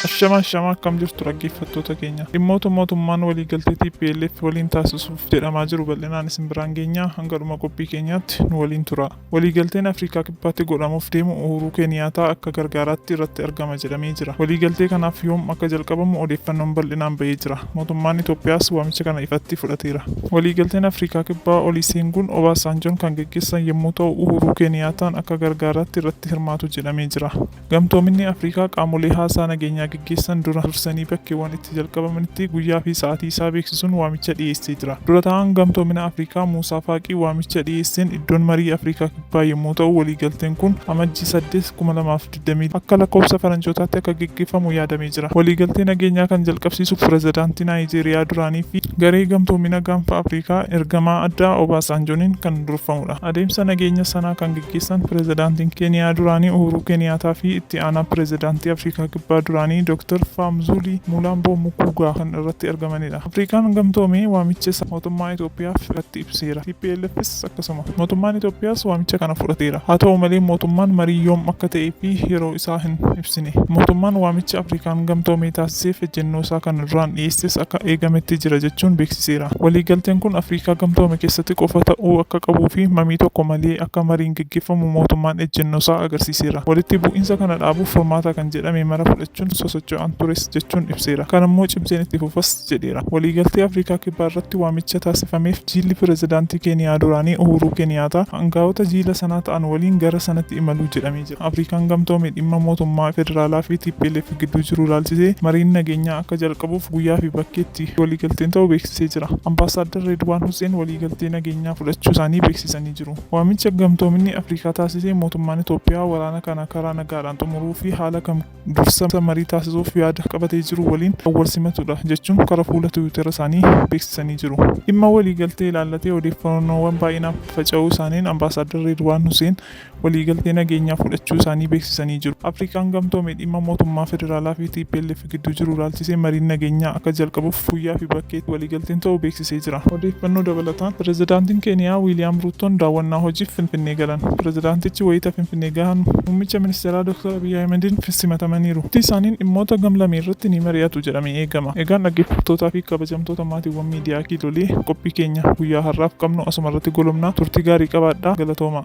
Ashama ashama akkam jirtu dhaggeeffattoota keenya. Dhimmoota mootummaan waliigaltee TPLF waliin taasisuuf jedhamaa jiru bal'inaan isin biraan geenyaa hanga dhuma qophii keenyaatti nu waliin tura. Waliigalteen Afrikaa Kibbaatti godhamuuf deemu Uhuruu Keeniyaataa akka gargaaraatti irratti argama jedhamee jira. Waliigaltee kanaaf yoom akka jalqabamu odeeffannoon bal'inaan ba'ee jira. Mootummaan Itoophiyaas waamicha kana ifatti fudhateera. Waliigalteen Afrikaa Kibbaa Oliiseenguun Obaasaanjoon kan geggeessan yommuu ta'u Uhuruu Keeniyaataan akka gargaaraatti irratti hirmaatu jedhamee jira. Gamtoominni Afrikaa qaamolee haasaa nageenyaa geggeessan dura dursanii bakkeewwan itti jalqabamanitti guyyaa fi sa'aatii isaa beeksisuun waamicha dhiyeessee jira. Dura taa'aan Gamtoomina Afrikaa Muusaa Faaqii waamicha dhiyeesseen iddoon marii Afrikaa Kibbaa yommuu ta'u waliigalteen kun Amajjii saddeet, kuma lamaa fi digdamii lama akka lakkoofsa faranjootaatti akka geggeeffamu yaadamee jira. Waliigaltee nageenyaa kan jalqabsiisu Pirezidaantii Naayijeeriyaa duraanii fi garee Gamtoomina Gaanfa Afrikaa ergamaa addaa Obaasaanjooniin kan durfamudha. Adeemsa nageenya sanaa kan keessan Pirezidaantiin Keeniyaa duraanii Uhuruu Keeniyaataa fi itti aanaa Pirezidaantii Afrikaa Kibbaa duraanii Dr. Faamzuulii Muulaamboo Mukuugaa kan irratti argamanidha. Afrikaan Gamtoomee waamicha isaa mootummaa Itoophiyaaf irratti ibseera. TPLFs akkasuma. Mootummaan Itoophiyaas waamicha kana fudhateera. Haa ta'u malee mootummaan marii yoom akka ta'ee fi yeroo isaa hin ibsine. ibsine. Mootummaan waamicha Afrikaan Gamtoomee taasiseef ejjennoosaa kan duraan dhiyeesses akka eegametti jira jechuun beeksiseera. Waliigalteen kun Afriikaa Gamtoome keessatti qofa ta'uu akka qabuufi mamii tokko malee akka mariin geggeeffamu mootummaan ejjennoosaa agarsiiseera. Walitti bu'iinsa kana dhaabuuf furmaata kan jedhame mara fudhachuun sosocho'aan tures jechuun ibseera. Kanammoo cimseen itti fufas jedheera. Waliigaltee Afriikaa Kibbaarratti waamicha taasifameef jiilli pirezidaantii Keeniyaa duraanii Uhuruu Keeniyaataa angaa'ota jiila sanaa ta'an waliin gara sanatti imalu jedhamee jira. Afriikaan Gamtoome dhimma mootummaa federaalaa fi tplf gidduu jiru ilaalchisee mariin nageenyaa akka jalqabuuf guyyaa fi bakki itti waliigalteen ta'u beeksisee jira. Ambaasaaddar Reedwaan Husseen waliigaltee nageenyaa fudhachuu isaanii beeksisanii jiru. Waamicha Gamtoominni Afriikaa taasise mootummaan Itoophiyaa waraana kana karaa nagaadhaan xumuruu fi haala kam dursa marii taasisuuf yaada qabatee jiru waliin kan wal simatu dha jechuun kara fuula tiwiitera isaanii beeksisanii jiru. Dhimma waliigaltee ilaallatee odeeffannoowwan baay'inaan faffaca'uu isaaniin Ambaasaaddar Reedwaan Husseen, waliigaltee nageenyaa fudhachuu isaanii beeksisanii jiru. Afrikaan Gamtoome dhimma mootummaa federaalaa fi tplf gidduu jiru ilaalchisee mariin nageenyaa akka jalqabuuf Fuuyyaa fi Bakkeetti waliigalteen ta'uu beeksisee jira. Odeeffannoo dabalataan Pirezidaantiin Keeniyaa Wiiliyaam Ruuttoon daawwannaa hojiif Finfinnee galan. Pirezidaantichi wayita Finfinnee gahan Muummicha Ministeeraa Dooktar Abiy Ahimediin simatamaniiru. Turtii isaaniin dhimmoota gam-lamee irratti ni mari'atu jedhamee eegama. Egaan dhaggeeffattootaa fi kabajamtoota maatiiwwan miidiyaa Kiilolee, qophii keenya guyyaa har'aaf qabnu asuma irratti golobna. Turtii gaarii qabaadhaa. Galatoomaa!